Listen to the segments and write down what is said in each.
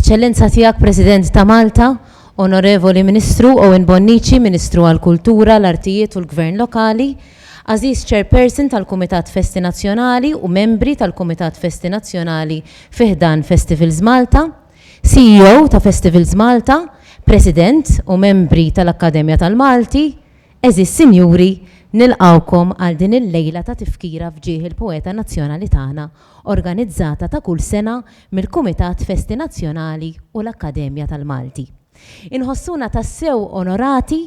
Eċċellenza Tiegħek President ta' Malta, Onorevoli Ministru Owen Bonnici, Ministru għall-Kultura, l-Artijiet u l-Gvern Lokali, Għażiż Chairperson tal-Kumitat Festi Nazzjonali u membri tal-Kumitat Festi Nazzjonali fi ħdan Festivals Malta, CEO ta' Festivals Malta, President u membri tal-Akkademja tal-Malti, Għeżież Sinjuri, nilqgħukom għal din il-lejla ta' tifkira f'ġieħ il-poeta nazzjonali tagħna, organizzata ta' kull sena mill-Kumitat Festi Nazzjonali u l-Akkademja tal-Malti. Inħossuna tassew onorati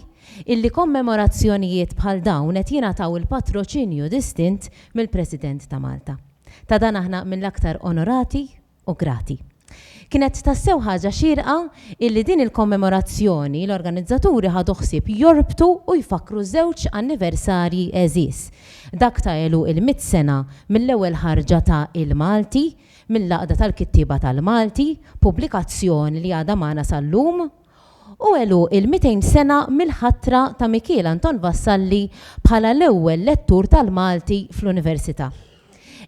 illi kommemorazzjonijiet bħal dawn qed jingħataw il-patroċinju distint mill-President ta' Malta. Ta' dan aħna mill-aktar onorati u grati. Kienet tassew ħaġa xierqa illi din il-kommemorazzjoni l-organizzaturi ħadu ħsieb jorbtu u jfakkru żewġ anniversarji għeżież, dak ta' għeluq il-mitt sena mill-ewwel ħarġa ta' Il-Malti mill-Għaqda tal-Kittieba tal-Malti, pubblikazzjoni li għadha magħna sal-lum. u għeluq il-200 sena mill-ħatra ta' Mikiel Anton Vassalli bħala l-ewwel lettur tal-Malti fl-Università.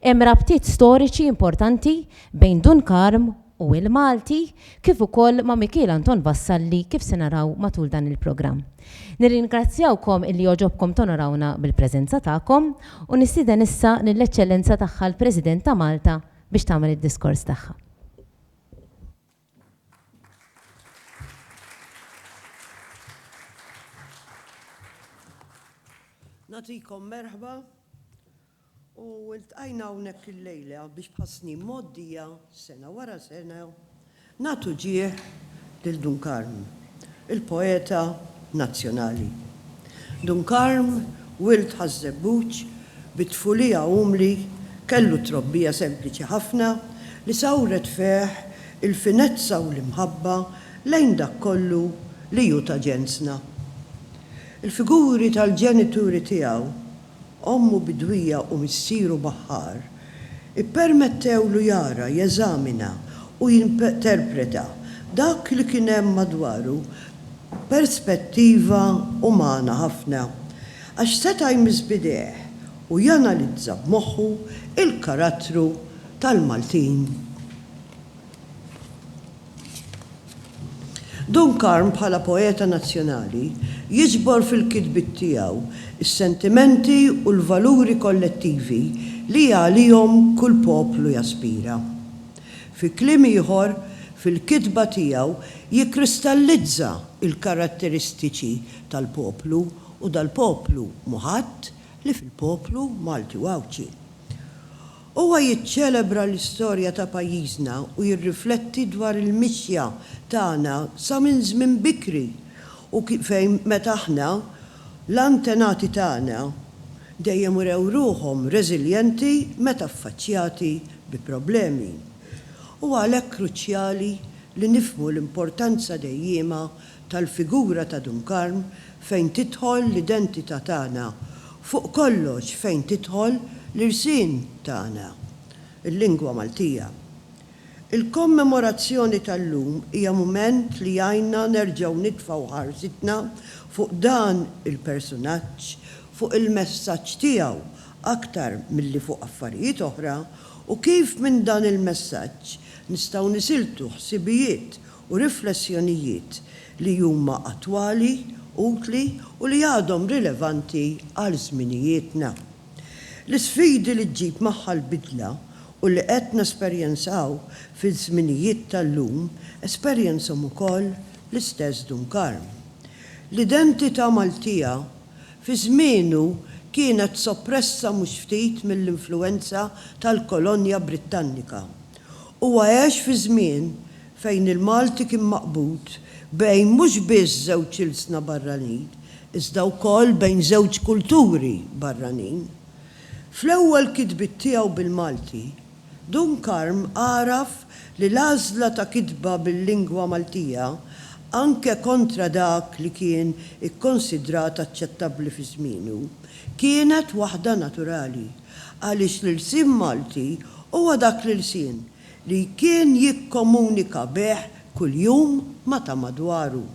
Hemm rabtiet storiċi importanti bejn Dun Karm u l-Malti kif ukoll ma' Mikiel Anton Vassalli kif se naraw matul dan il-programm. Nirringrazzjawkom illi għoġobkom tonorawna bil-preżenza tagħkom u nistieden issa lill-Eċċellenza Tagħha l-President ta' Malta biex tagħmel id-diskors tagħha. Nagħtikom merħba u ltqajna hawnhekk illejla biex bħas-snin mgħoddija, sena wara sena, nagħtu ġieħ lil Dun Karm. il-poeta nazzjonali. Dun Karm, wild Ħaż-Żebbuġ, bi tfulija umli, kellu trobbija sempliċi ħafna li sawret fih il-finezza u l-imħabba lejn dak kollu li hu ta' ġensna. Il-figuri tal-ġenituri tiegħu, ommu bidwija u missieru baħħar, ippermettewlu jara, jeżamina u jinterpreta dak li kien hemm madwaru b'perspettiva umana ħafna, għax seta' jmiss b'idejh u janalizza b'moħħu l-karattru tal-Maltin. Dun Karm bħala poeta nazzjonali jiġbor fil-kitbiet tiegħu s-sentimenti u l-valuri kollettivi li għalihom kull poplu jaspira. Fi kliem ieħor, fil-kitba tiegħu jikkristallizza l-karatteristiċi tal-poplu u dal-poplu mhu ħadd li fil-poplu Malti u Għawdxi. Huwa jiċċelebra l-istorja ta' pajjiżna u jirrifletti dwar il-mixja tagħna sa minn żmien bikri u fejn meta aħna, l-antenati tagħna, dejjem urew ruħhom reżiljenti meta ffaċċjati bi problemi. Huwa għalhekk kruċjali li nifhmu l-importanza dejjiema tal-figura ta' Dun Karm fejn tidħol l-identità tagħna, fuq kollox fejn tidħol l-irsien tagħna, il-lingwa Maltija. Il-kommemorazzjoni tal-lum hija mument li jgħinna nerġgħu nitfgħu ħarsitna fuq dan il-persunaġġ, fuq il-messaġġ tiegħu aktar milli fuq affarijiet oħra u kif minn dan il-messaġġ nistgħu nisiltu ħsibijiet u riflessjonijiet li huma attwali, utli u li għadhom rilevanti għal żminijietna. L-isfidi li ġġib magħha l-bidla u li qed nesperjenzaw fiż-żminijiet tal-lum esperjenzhom ukoll l-istess Dun Karm. L-identità Maltija fi żmienu kienet soppressa mhux ftit mill-influwenza tal-kolonja Brittannika Huwa għex fi żmien fejn il-Malti kien maqbud bejn mhux biss żewġ ilsna barranin, iżda wkoll bejn żewġ kulturi barranin. Fl-ewwel kitbiet tiegħu bil-Malti, Dun Karm għaraf li l-għażla ta' kitba bil-lingwa Maltija, anke kontra dak li kien ikkonsidrat aċċettabbli fi żmienu, kienet waħda naturali. Għaliex l-ilsien Malti huwa dak l-ilsien li kien jikkomunika bih kuljum ma' ta' madwaru.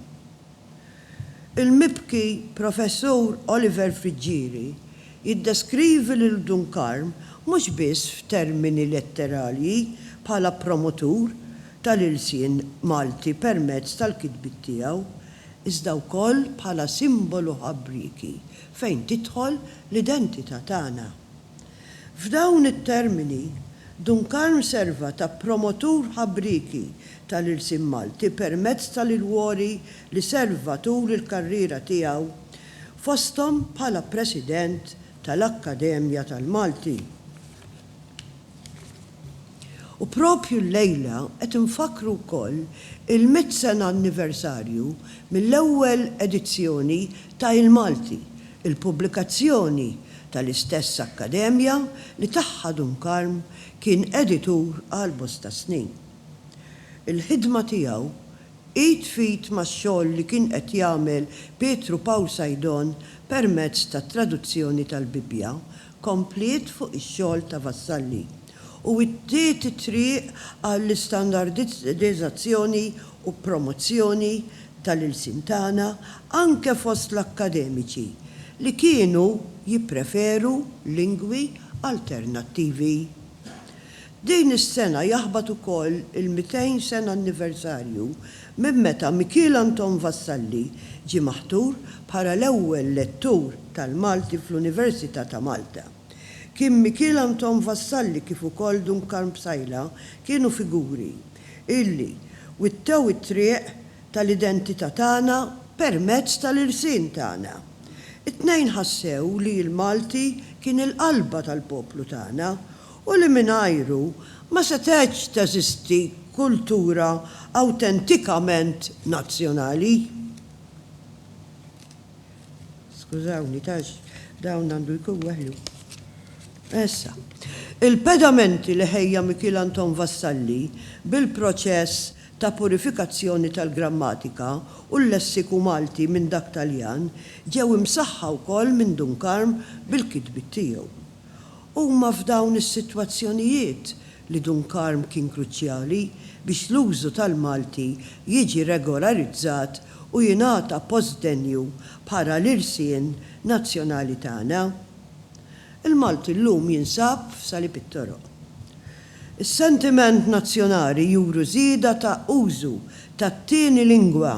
Il-mibki Professur Oliver Friggieri jiddeskrivi lil Dun Karm mhux biss f'termini letteralji bħala promotur tal-ilsien Malti permezz tal-kitbiet tiegħu, iżda wkoll bħala simbolu ħabrieki fejn tidħol l-identità tagħna. F'dawn it-termini, Dun Karm serva ta' promotur ħabrieki tal-ilsien Malti permezz tal-ilwori li serva tul il-karriera tiegħu, fosthom bħala President tal-Akkademja tal-Malti. U propju llejla qed infakkru wkoll il-mitt sena anniversarju mill-ewwel edizzjoni ta' Il-Malti, il-pubblikazzjoni tal-istess akkademja li tagħha Dunkarm kien editur għal bosta snin. Il-ħidma tiegħu, id f'id max-xogħol li kien qed jagħmel Pietru Pawl Saidon permezz tat-traduzzjoni tal-Bibbja, kompliet fuq ix-xogħol ta' Vassalli u wittiet it-triq għall-istandardizzazzjoni u promozzjoni tal-ilsien tagħna anke fost l-akkademiċi li kienu jippreferu lingwi alternattivi. Din is-sena jaħbat ukoll il-200 sena anniversarju minn meta Mikiel Anton Vassalli ġie maħtur bħala l-ewwel lettur tal-Malti fl-Università ta' Malta. Kien Mikiel Anton Vassalli kif ukoll Dun Karm Psaila kienu figuri illi wittew it-triq tal-identità tagħna permezz tal-irsien tagħna. It-tnejn ħassew li l-Malti kien il-qalba tal-poplu tagħna u li mingħajru ma setgħetx teżisti kultura awtentikament nazzjonali. Skużawni, għax dawn għandu jkun weħlu. Issa, il-pedamenti li ħejja Mikiel Anton Vassalli bil-proċess ta' purifikazzjoni tal-grammatika u l-lessiku Malti minn dak Taljan ġew imsaħħa wkoll minn Dun Karm bil-kitbiet tiegħu. Huma f'dawn is-sitwazzjonijiet li Dun Karm kien kruċjali biex l-użu tal-Malti jiġi regolarizzat u jingħata post denju bħala l-irsien nazzjonali tagħna. Il-Malti llum jinsab f'salib it-toroq. Is-sentiment nazzjonali juru żieda ta' użu tat-tieni lingwa,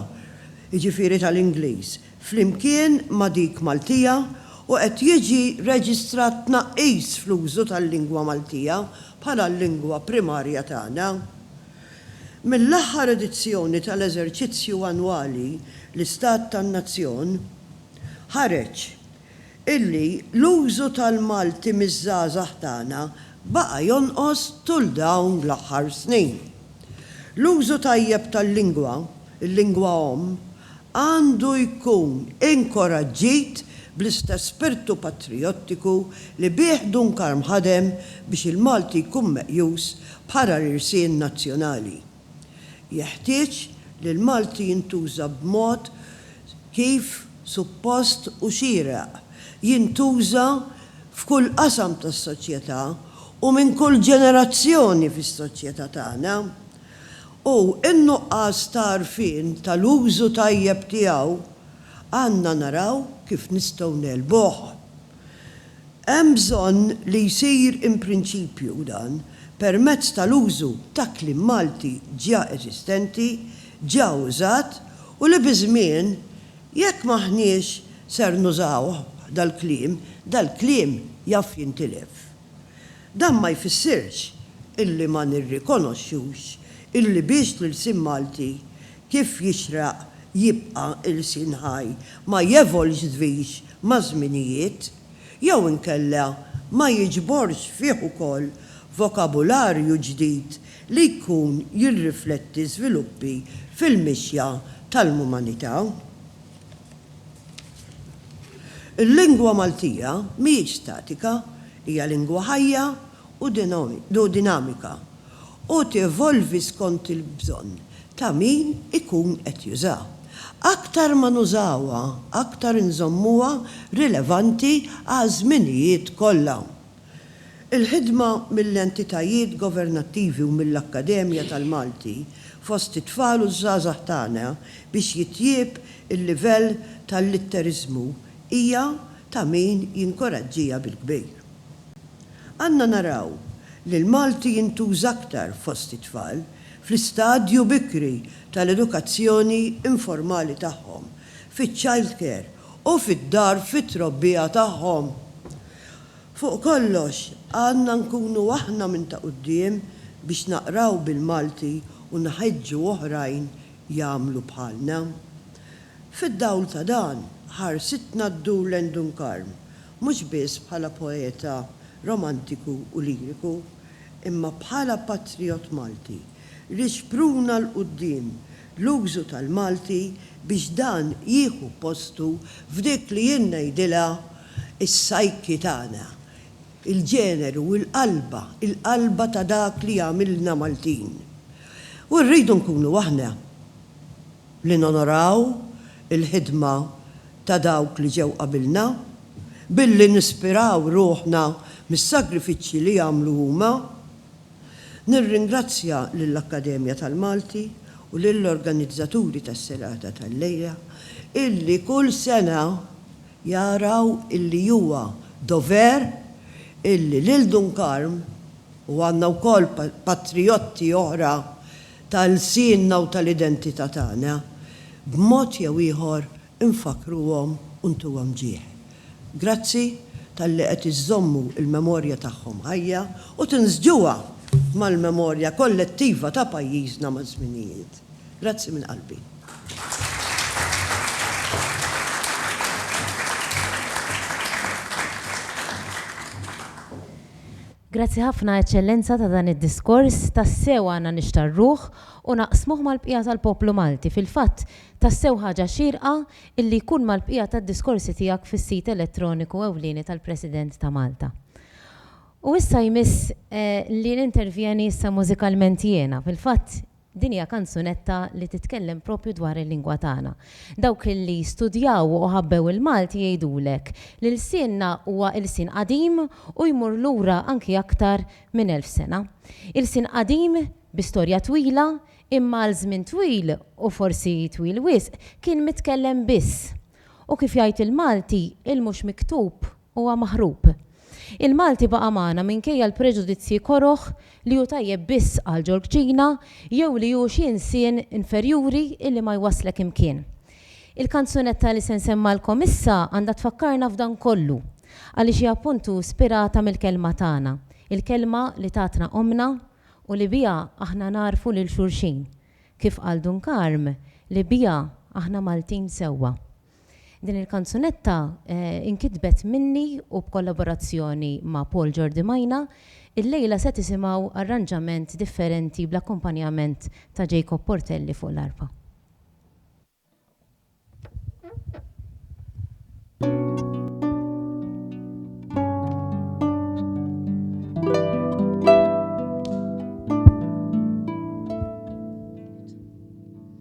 jiġifieri tal-Ingliż, flimkien ma' dik Maltija u qed jiġi reġistrat tnaqqis fl-użu tal-lingwa Maltija bħala l-lingwa primarja tagħna. Mill-aħħar edizzjoni tal-eżerċizzju annwali L-Istat tan-Nazzjon, ħareġ illi l-użu tal-Malti miż-żgħażagħ tagħna baqa' jonqos tul dawn l-aħħar snin. L-użu tajjeb tal-lingwa, il-lingwa omm, għandu jkun inkoraġġit bl-istess spirtu patrijottiku li bih Dun Karm ħadem biex il-Malti jkun meqjus bħala l-irsien nazzjonali. Jeħtieġ li l-Malti jintuża b'mod kif suppost u xieraq jintuża f'kull qasam tas-soċjetà u minn kull ġenerazzjoni fis-soċjetà tagħna, u n-nuqqas ta' għarfien tal-użu tajjeb tiegħu għandna naraw kif nistgħu negħlbuh. Hemm bżonn li jsir in prinċipju u dan permezz tal-użu ta' kliem Malti ġa eżistenti, ġa użat u li biż-żmien, jekk m'aħniex ser nużawh dal-kliem, dal-kliem jaf jintilef. Dan ma jfissirx illi ma nirrikonoxxux illi biex l-ilsien Malti Kif jixraq jibqa' ilsien ħaj ma jevolġdvix maż-żminijiet, jew inkella ma jiġborx fih ukoll vokabularju ġdid li jkun jirrifletti żviluppi fil-mixja tal-mumanità. Il-lingwa Maltija mhijiex statika, hija lingwa ħajja u dinamika u tevolvi skont il-bżonn ta' min ikun qed jużha. Aktar ma nużawha, aktar inżommuha rilevanti għaż-żminijiet kollha. Il-ħidma mill-entitajiet governattivi u mill-Akkademja tal-Malti fost it-tfal u ż-żgħażagħ tagħna biex jitjieb il-livell tal-litteriżmu hija ta' min jinkoraġġiha bil-kbir. Għandna naraw li l-Malti jintuża aktar fost it-tfal fl-istadju bikri tal-edukazzjoni informali tagħhom, fiċ-childcare u fid-dar fit-trobbija tagħhom. Fuq kollox, għandna nkunu aħna minn ta' quddiem biex naqraw bil-Malti u nħeġġu oħrajn jagħmlu bħalna. Fid-dawl ta' dan, ħarsitna ddur lejn Dunkarm mhux biss bħala poeta romantiku u liriku, imma bħala patrijott Malti li xpruna 'l quddiem l-użu tal-Malti biex dan jieħu postu f'dik li jien ngħidilha s-psyche tagħna, il-ġeneru, il-qalba, il-qalba ta' dak li jagħmilna Maltin. U rridu nkunu aħna. li nonoraw il-ħidma ta' dawk li ġew qabilna billi nispiraw ruħna mis-sagrifiċċji li għamlu huma. Nirringrazzja lill-Akkademja tal-Malti u lill-organizzaturi tas-Serata tal-Lejla illi kull sena jaraw illi huwa dover illi lil Dun Karm, u għandna wkoll patrijotti oħra ta' lsienna u tal-identità tagħna, b'mod jew ieħor infakkruhom u ntuhom ġieħ. Grazzi talli qed iżżommu l-memorja tagħhom ħajja u tinsġuha mal-memorja kollettiva ta' pajjiżna maż-żminijiet. Grazzi minn qalbi. Grazzi ħafna, Eċċellenza, ta' dan id-diskors. Tassew għandna nixtarruh u naqsmuh mal-bqija tal-poplu Malti. Fil-fatt, tassew ħaġa xierqa illi jkun mal-bqija tad-diskorsi tiegħek fis-sit elettroniku ewlieni tal-President ta' Malta. U issa jmiss li nintervjeni issa mużikalment jiena. Fil-fatt, Din hija kanzunetta li titkellem propju dwar il-lingwa tagħna. Dawk li studjaw u ħabbew il-Malti jgħidulek li lsienna huwa ilsien qadim u jmur lura anki aktar minn elf sena. Ilsien qadim bi storja twila imma għal żmien twil u forsi twil wisq kien mitkellem biss. U kif jgħid il-Malti, il-mhux miktub huwa maħrub. Il-Malti baqa' magħna minkejja l-preġudizzji koroh li hu tajjeb biss għal Ġorġina jew li hu xi insien inferjuri illi ma jwasslek imkien. Il-kanzunetta li se nsemmgħalkom issa għandha tfakkarna f'dan kollu għaliex hi appuntu spirata mill-kelma tagħna, il-kelma li tatna ommna u li biha aħna nagħrfu lil xulxin, kif qal Dun Karm, li biha aħna Maltin sewwa. Din il-kanzunetta inkitbet minni u b'kollaborazzjoni ma' Paul Jordi Majna. Illejla se tisimgħu arranġament differenti bl-akkumpanjament ta' Jacob Portelli fuq l-arpa.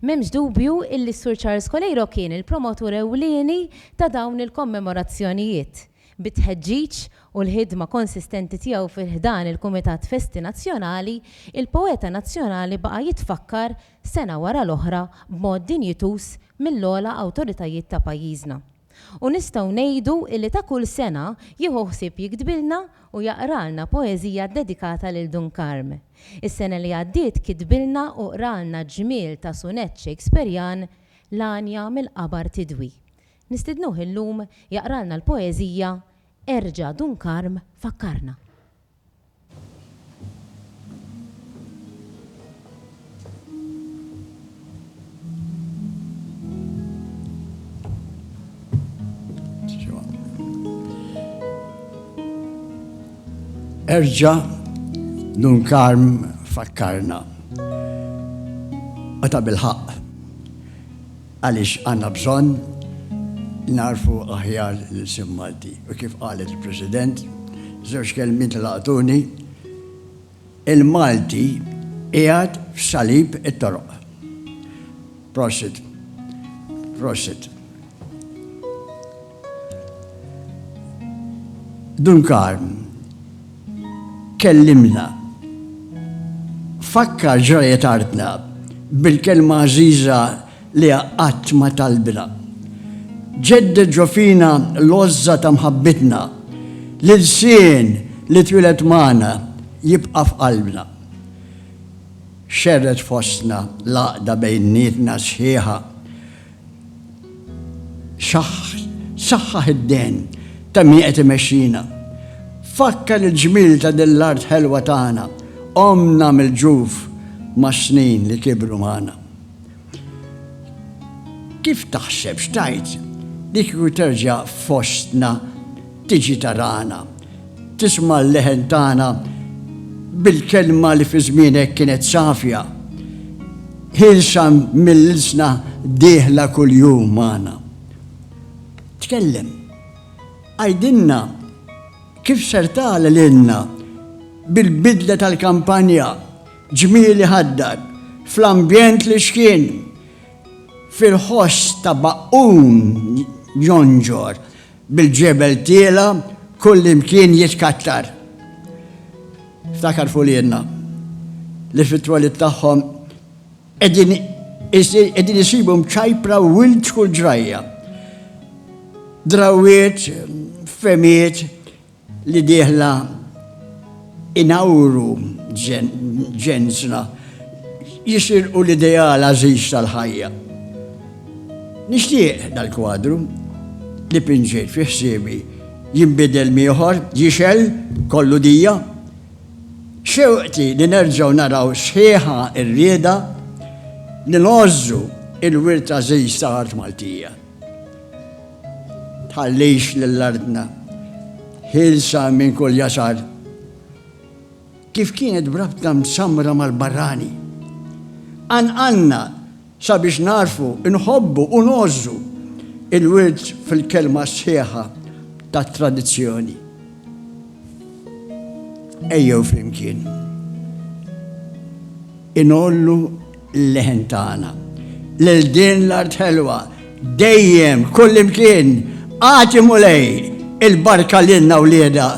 M'hemmx dubju illi s-Sur Charles Coleiro kien il-promotur ewlieni ta' dawn il-kommemorazzjonijiet, bit-tħeġġiġ u l-ħidma konsistenti tiegħu fi ħdan il-Kumitat Festi Nazzjonali, il-poeta nazzjonali baqa' jitfakkar sena wara l-oħra b'mod dinjituż mill-ogħla awtoritajiet ta' pajjiżna. U nistgħu ngħidu illi ta' kull sena jieħu ħsieb jiktbilna u jaqralna poeżija ddedikata lil Dun Karm. Is-sena li għaddiet kitbilna u qralna ġmiel ta' sunett Shakespearjan, L-għanja mill-qabar tidwi. Nistidnuh illum jaqralna l-poeżija Erġa' Dun Karm fakkarna. Erġa nun karm fakkarna. Għata bil-ħaq. Għaliex għandna bżonn nagħrfu aħjar l-ilsien Malti u kif qalet il-President, żewġ kelmiet li laqtuni, il-Malti qiegħed f'salib it-toroq. Prosit. Prosit. Dunkarn, kellimna. Fakkar ġrajet artna bil-kelma għażiża li qatt ma talbna. Ġedded ġofina l-għożża ta' mħabbitna, l-ilsien li twilet magħna jibqa' f'qalbna. Xerred fostna l-għaqda bejnietna sħiħa, Saħħaħ id-dehen ta' min qed imexxina. Fakkar il-ġmiel ta' din l-art ħelwa tagħna, għomna mill-ġuf mas-snin li kibru magħna. Kif taħseb x'tgħid li kieku terġa' fostna Tiġi tarana. Tisma' l-leħen tagħna bil-kelma li fi żmienek kienet safja, ħielsa mill-ilsna dieħla kuljum magħna. Tkellem. Għidilna kif ser tagħla lilna bil-bidla tal-kampanja, ġmiel iħaddar, fl-ambjent li xkien, fil-ħoss ta' baqqun jonġor, Bil-ġebel tiela' kullimkien jitkattar. Ftakar f'uliedna li fit-twelid tagħhom qegħdin isibu mċajpra wild kull ġrajja. Drawwiet, fehmiet, li dieħla inawru ġensna jisirqu l-ideal għażiż tal-ħajja. Nixtieq dal-kwadru li pinġejt fi ħsiebi jinbidel mieħor, jixel, kollu dija. Xewqti li nerġaw naraw sħiħa ir-rieda li nożżu il-wirt għażiż ta' art Maltija. Tħallix lil artna ħielsa minn kull jasar. Kif kienet b'rabta msammra mal-barrani. Qanqalna sabiex nagħrfu, inħobbu u ngħożżu l-wirt fil-kelma sħiħa tat-tradizzjoni. Ejjew flimkien ingħollu l-leħen tagħna. Lil din l-art ħelwa, dejjem, kullimkien, agħti Mulej il-barka lilna wliedha,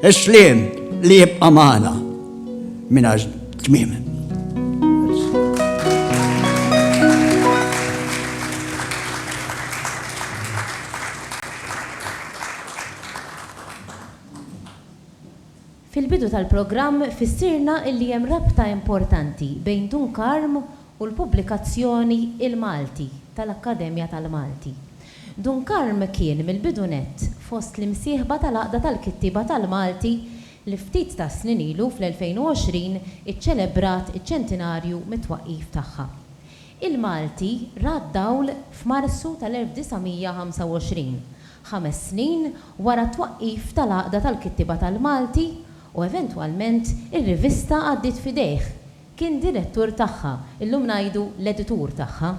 is-sliem li jibqa' magħna mingħajr tmiem. Fil-bidu tal-programm fissirna li hemm rabta importanti bejn Dunkarm u l-pubblikazzjoni Il-Malti tal-Akkademja tal-Malti. Dunkarm kien mill-bidu nett fost l-imsieħba tal-Għaqda tal-Kittieba tal-Malti li ftit tas-snin ilu fl-2020 iċċelebrat iċ-ċentinarju mit-twaqqif tagħha. Il-Malti ra d-dawl f'Marzu tal-1925 ħames snin wara t-twaqqif tal-Għaqda tal-Kittieba tal-Malti u eventwalment ir-rivista għaddiet f'idejh, kien direttur tagħha, illum ngħidu l-editur tagħha,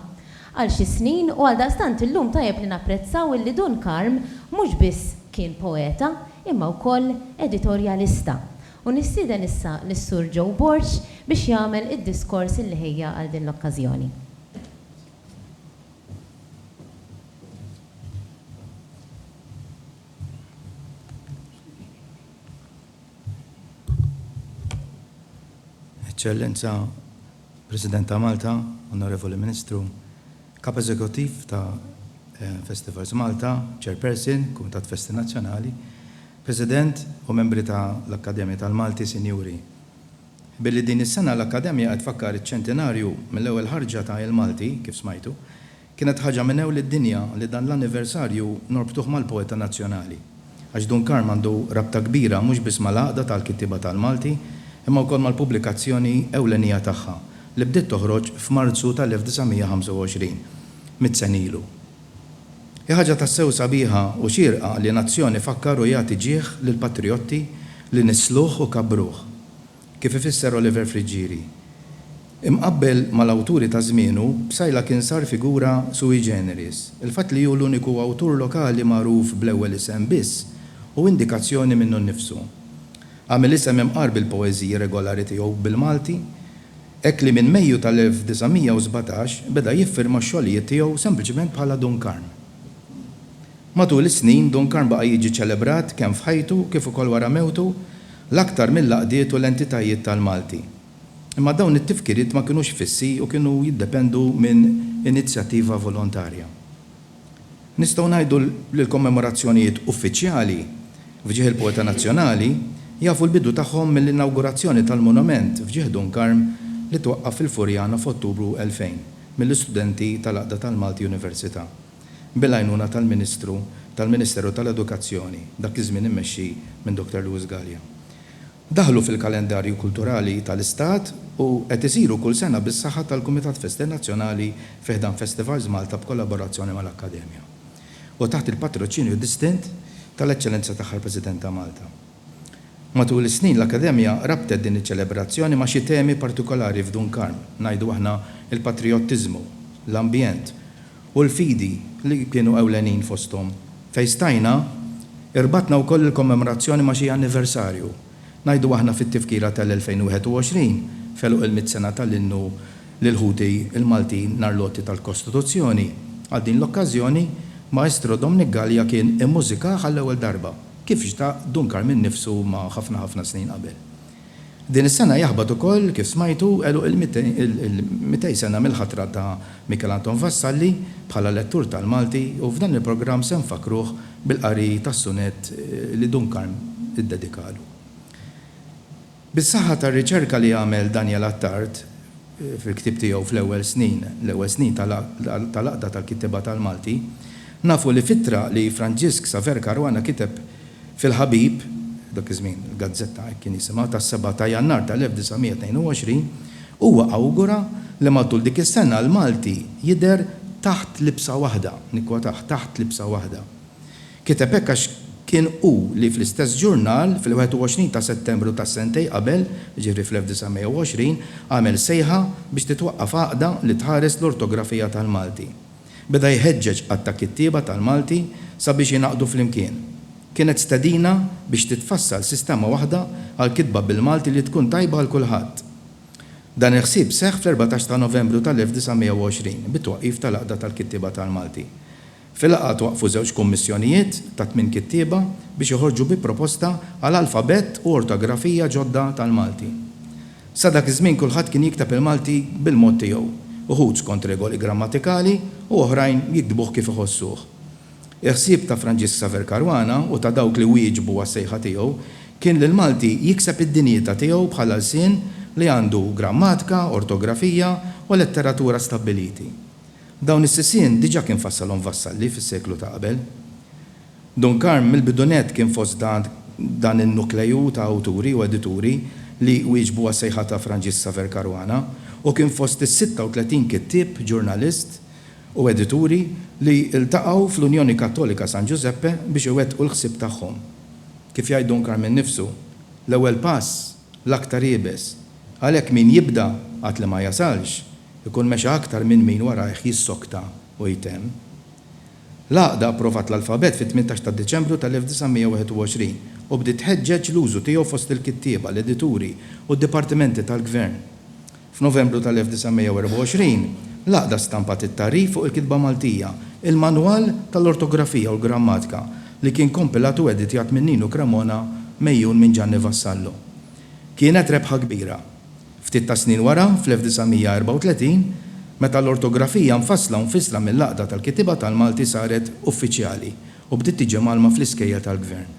għal xi snin u għaldaqstant illum tajjeb li napprezzaw illi Dun Karm mhux biss kien poeta imma wkoll editorjalista. U nistieden issa lis-Sur Joe Borg biex jagħmel id-diskors illi ħejja għal din l-okkażjoni. Eċċellenza President ta' Malta, Onorevoli Ministru, Kap Eżekuttiv ta' eh, Festivals Malta, Chairperson, Kumitat Festi Nazzjonali, President u membri ta' l-Akkademja tal-Malti, Sinjuri. Billi din is-sena l-Akkademja qed tfakkar iċ-ċentinarju mill-ewwel ħarġa ta' Il-Malti, kif smajtu, kienet ħaġa minn ewl id-dinja li dan l-anniversarju norbtuh mal-poeta nazzjonali. Għax Dun Karm għandu rabta kbira mhux biss mal-Għaqda tal-Kittieba tal-Malti, imma wkoll mal-pubblikazzjoni ewlenija tagħha, li bdiet toħroġ f'Marzu tal-1925, mitt sena ilu. Hi ħaġa tassew sabiħa u xierqa li nazzjon ifakkar u jagħti ġieħ lill-patrijotti li nissluh u kabbruh, kif ifisser Oliver Friggieri. Imqabbel mal-awturi ta' żmienu, Psaila kien sar figura sui generis. Il-fatt li hu l-uniku awtur lokali magħruf bl-ewwel isem biss hu indikazzjoni minnu nnifsu. Għamel isem imqar bil-poeżiji regolari tiegħu bil-Malti Hekk li minn Mejju tal-1917 beda jiffirma x-xogħlijiet tiegħu sempliċement bħala Dun Karm. Matul is-snin, Dun Karm baqa' jiġi ċelebrat kemm f'ħajtu kif ukoll wara mewtu l-aktar mill-għaqdiet u l-entitajiet tal-Malti. Imma dawn it-tifkiriet ma kinux fissi u kienu jiddependu minn inizjattiva volontarja. Nistgħu ngħidu li l-kommemorazzjonijiet uffiċjali f'ġieħ il-poeta nazzjonali jafu l-bidu tagħhom mill-inawgurazzjoni tal-monument f'ġieħ Dun Karm li twaqqaf fil-Furjana f'Ottubru 2000 mill-istudenti tal-Għaqda tal-Malti Università bil-għajnuna tal-Ministru tal-Ministeru tal-Edukazzjoni dak iż-żmien immexxi minn Dr. Louis Galea. Daħlu fil-kalendarju kulturali tal-Istat u qed isiru kull sena bis-saħħa tal-Kumitat Festi Nazzjonali fi ħdan Festivals Malta b'kollaborazzjoni mal-Akkademja u taħt il-patroċinju distint tal-Eċċellenza Tagħha l-President ta' Malta. Matul is-snin l-Akkademja rabtet din iċ-ċelebrazzjoni ma' xi temi partikolari f'Dunkarn, ngħidu aħna l-patrijottiżmu, l-ambjent u l-fidi li kienu ewlenin fosthom. Fejn stajna, irbatna wkoll il-kommemorazzjoni ma' xi anniversarju. Ngħidu aħna fit-Tifkira tal-2021, f'għeluq il-mitt sena tal-innu lil ħuti l-Maltin nhar l-għoti tal-Kostituzzjoni. Għal din l-okkażjoni, Maestro Dominic Galea kien immużikah għall-ewwel darba, kif xtaq Dun Karmien nnifsu ma' ħafna ħafna snin qabel. Din is-sena jaħbat ukoll, kif smajtu, għeluq il-200 sena mill-ħatra ta' Michel Anton Vassalli bħala lettur tal-Malti u f'dan il-programm se nfakkruh bil-qari tas-sunett li Dun Karm iddedikalu. Bis-saħħa tar-riċerka li għamel Daniel Attard, fil-ktieb tiegħu fl-ewwel snin, l-ewwel snin tal-Għaqda tal-Kittieba tal-Malti, nafu li f'ittra li Franġisk Saver Caruana kiteb fil-Ħabib, dak iż-żmien gazzetta hekk kien jisimha, tas-seba' ta' Jannar tal-1922, huwa awgura li matul dik is-sena l-Malti jidher taħt libsa waħda, nikkwotah, taħt libsa waħda. Kiteb hekk għax kien hu li fl-istess ġurnal, fil-21 ta' Settembru ta' sentejn qabel, jiġifieri fl-1920, għamel sejħa biex titwaqqaf għaqda li tħares l-ortografija tal-Malti. Beda jħeġġeġ għadd ta' kittieba tal-Malti sabiex jingħaqdu flimkien. Kienet stedina biex titfassal sistema waħda għall-kitba bil-Malti li tkun tajba għal kulħadd. Dan il-ħsieb seħħ fl-erbatax ta' Novembru tal-1920, bit-twaqqif tal-Għaqda tal-Kittieba tal-Malti. Fil-laqgħa twaqqfu żewġ kummissjonijiet ta' tmien kittieba biex joħorġu bi proposta għal alfabett u ortografija ġodda tal-Malti. Sa dak iż-żmien kulħadd kien jikteb il-Malti bil-mod tiegħu, uħud skont regoli grammatikali u oħrajn jiktbuh kif iħossuh. Il-ħsieb ta' Franġisk Xavier Caruana u ta' dawk li wieġbu għas-sejħa tiegħu kien li l-Malti jikseb id-dinjita tiegħu bħala lsien li għandu grammatika, ortografija u letteratura stabbiliti. Dawn is-sisien diġà kien fassalhom Vassalli fis-seklu ta' qabel. Dun Karm mill-bidunett kien fost dan in-nukleju ta' awturi u edituri li wieġbu għas-sejħa ta' Franġisk Saver Caruana u kien fost is-36 kittieb, ġurnalist u edituri li ltaqgħu fl-Unjoni Kattolika San Giuseppe biex iwettqu l-ħsieb tagħhom. Kif jgħid Dun Karm innifsu, l-ewwel pass, l-aktar iebes. Għalhekk min jibda għad li ma jasalx, ikun mexa aktar minn min warajh jissokta u jtemm. L-Għaqda approvat l-alfabett fit-tmintax ta' Diċembru tal-1921 u bdiet tħeġġeġ l-użu tiegħu fost il-kittieba, l-edituri u d-dipartimenti tal-gvern. F'Novembru tal-1924, l-Għaqda stampat it-tagħrif fuq il-kitba Maltija, il-Manwal tal-Ortografija u l-Grammatika, li kien kompilat u editjat minn Ninu Cremona mgħejjun minn Ġanni Vassallo. Kienet rebħa kbira. Ftit tas-snin wara, fl-1934, meta l-ortografija mfassla u mfissla mill-Għaqda tal-Kittieba tal-Malti saret uffiċjali u bdiet tiġi mgħallma fl-iskejjel tal-Gvern.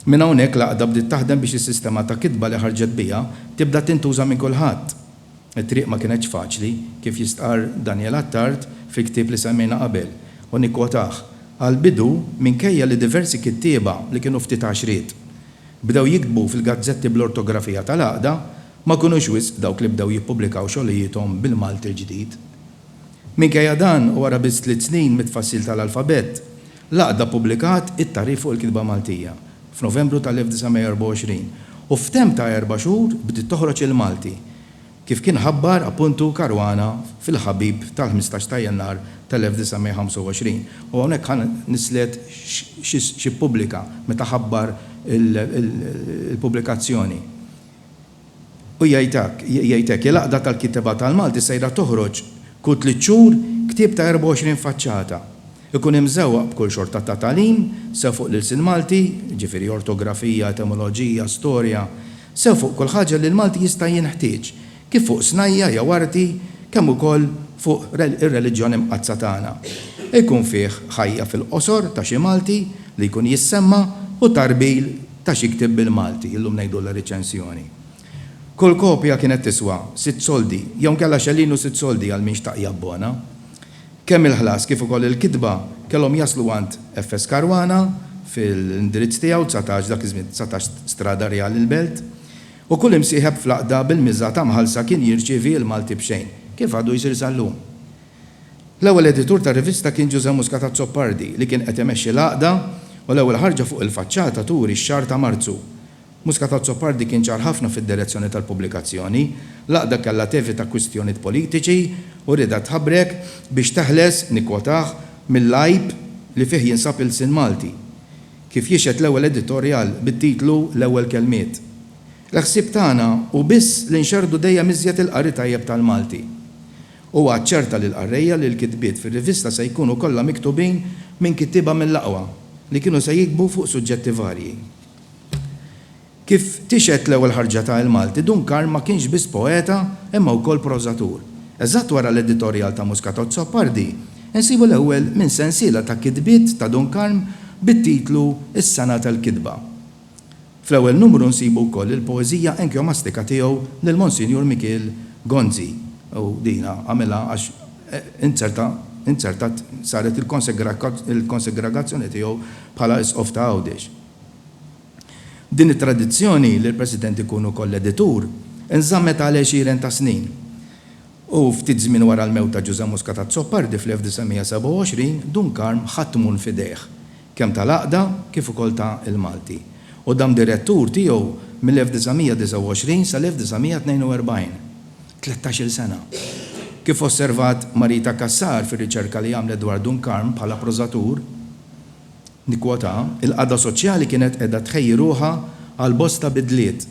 Minn hawnhekk l-Għaqda bdiet taħdem biex is-sistema ta' kitba li ħarġet biha tibda tintuża minn kulħadd. It-triq ma kinetx faċli, kif jistqarr Daniel Attard fil-ktieb li semmejna qabel, u nikkwotah, Għall-bidu, minkejja li diversi kittieba li kienu ftit għaxriet bdew jiktbu fil-gazzetti bl-ortografija tal-Għaqda, ma kinux wisq dawk li bdew jippubblikaw xogħlijiethom bil-Malti l-ġdid. Minkejja dan, u wara biss tliet snin mit-tfassil tal-alfabett, L-Għaqda ppubblikat it-Tagħrif fuq il-Kitba Maltija f'Novembru tal-1924 u f'temp ta' erba' xhur bdiet toħroġ il-Malti, kif kien ħabbar appuntu Caruana fil-Ħabib tal-ħmistax ta' Jannar tal-1925. U hawnhekk ħa nislet xi ppubblika meta ħabbar il-pubblikazzjoni. U jgħid hekk, jgħid hekk, Il-Għaqda tal-Kittieba tal-Malti sejra toħroġ kull tliet xhur ktieb ta' 24 faċċata. Ikun imżewwaq b'kull xorta ta' tagħlim, sew fuq l-ilsien Malti, jiġifieri ortografija, etimoloġija, storja, sew fuq kull ħaġa li l-Malti jista' jinħtieġ, kif fuq snajja' jew arti, kemm ukoll fuq ir-reliġjon imqaddsa tagħna. Ikun fih ħajja fil-qosor ta' xi Malti li jkun jissemma' u tarbigħ Ta' xi ktieb bil-Malti, illum ngħidulha riċensjoni. Kull kopja kienet tiswa sitt soldi, jew inkella xellin u sitt soldi għal min xtaq jabbona. Kemm il-ħlas kif ukoll il-kitba kellhom jaslu għand FS. Caruana fil-indirizz tiegħu, dsatax, dak iż-żmien dsatax Strada Rjali l-Belt, u kull imsieħeb fl-għaqda bil-miża ta' mħallsa kien jirċievi il-Malti b'xejn, kif għadu jsir sal-lum. L-ewwel editur tar-rivista kien Ġużè Muscat Azzopardi li kien qed imexxi l-għaqda u l-ewwel ħarġa fuq il-faċċata turi x-xahar ta' Marzu. Muscat Azzopardi kien ċar ħafna fid-direzzjoni tal-pubblikazzjoni. L-għaqda kellha tevita kwistjoniet politiċi u riedha tħabrek biex teħles, nikkwotah, mill-għajb li fih jinsab ilsien Malti. Kif jixhed l-ewwel editorjal bit-titlu L-Ewwel Kelmiet. L-ħsieb tagħna hu biss li nxerrdu dejjem iżjed il-qari tajjeb tal-Malti. Huwa aċċerta lill-qarrejja li l-kitbiet fir-rivista se jkunu kollha miktubin minn kittieba mill-aqwa li kienu se jiktbu fuq suġġetti varji. Kif tixhed l-ewwel ħarġa ta' Il-Malti, Dun Karm ma kienx biss poeta imma wkoll prożatur. Eżatt wara l-editorjal ta' Muscatozzo Appardi, insibu l-ewwel minn sensiela ta' kitbiet ta' Dun Karm bit-titlu Is-Sena tal-Kitba. Fl-ewwel numru nsibu wkoll il-poeżija enkjomastika tiegħu lil Monsinjur Mikiel Gonzi, u din għamilha għax inzerta, inzertat, saret il-konsegragazzjoni tiegħu bħala Isqof ta' Għawdex. Din it-tradizzjoni li l-President ikun ukoll editur inżammet għal għexieren ta' snin. u ftit żmien wara l-mewt ta' Ġużè Muscat Azzopardi fl-1927, Dun Karm ħa t-tmun f'idejh, kemm tal-Għaqda kif ukoll ta' l-Malti, u dam direttur tiegħu mill-1929 sal-1942, tlettax-il sena. Kif osservat Marita Cassar fir-riċerka li għamlet dwar Dun Karm bħala prożatur, nikkwotah, il-qagħda soċjali kienet qiegħda tħejji ruħha għal bosta bidliet,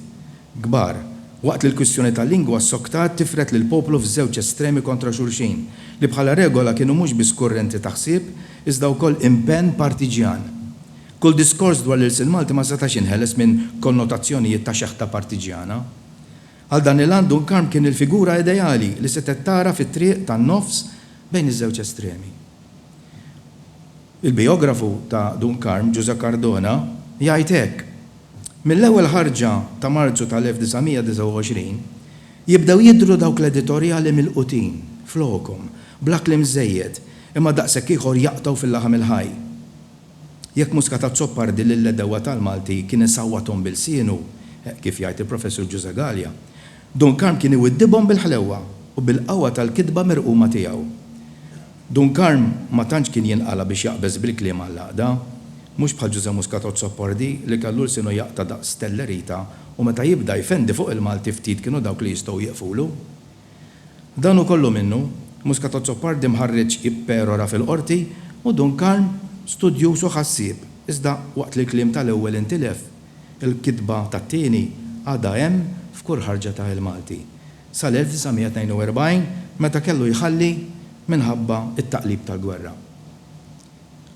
kbar, waqt li l-kwistjoni tal-lingwa ssoktat tifred lill-poplu f'żewġ estremi kontra xulxin, li bħala regola kienu mhux biss kurrenti ta' ħsieb, iżda wkoll impenn partiġjan. Kull diskors dwar l-ilsien Malti ma setax jinħeles minn konnotazzjonijiet ta' xeħta partiġjana. Għal dan il-għan Dun Karm kien il-figura ideali li setgħet tagħraf it-triq tan-nofs bejn iż-żewġ estremi. Il-bijografu ta' Dun Karm, Ġużè Cardona, jgħid hekk, Mill-ewwel ħarġa ta' Marzu tal-1929 jibdew jidhru dawk l-editorjali milqutin, flokhom, bla kliem żejjed, imma daqshekk ieħor jaqtgħu fil-laħam il-ħaj. Jekk Muscat Azzopardi lill-għedewwa tal-Malti kien isawwathom b'ilsienu, kif jgħid il-Professur Ġużè Galea, Dun Karm kien iwiddibhom bil-ħlewwa u bil-qawwa tal-kitba merquma tiegħu. Dun Karm ma tantx kien jinqala' biex jaqbeż bil-kliem għall-għaqda. Mhux bħal Ġużè Muscat Azzopardi li kellu lsienu jaqta' daqs stellerita u meta jibda jfendi fuq il-Malti ftit kienu dawk li jistgħu jieqfulu. Dan hu kollu minnu, Muscat Azzopardi mħarridx jipperora fil-Qorti u Dun Karm studjuż u ħassieb iżda waqt li l-kliem tal-ewwel intilef, il-kitba tat-tieni għadha hemm f'kull ħarġa ta' Il-Malti. sal-1942 meta kellu jħalli minħabba t-taqlib tal-gwerra.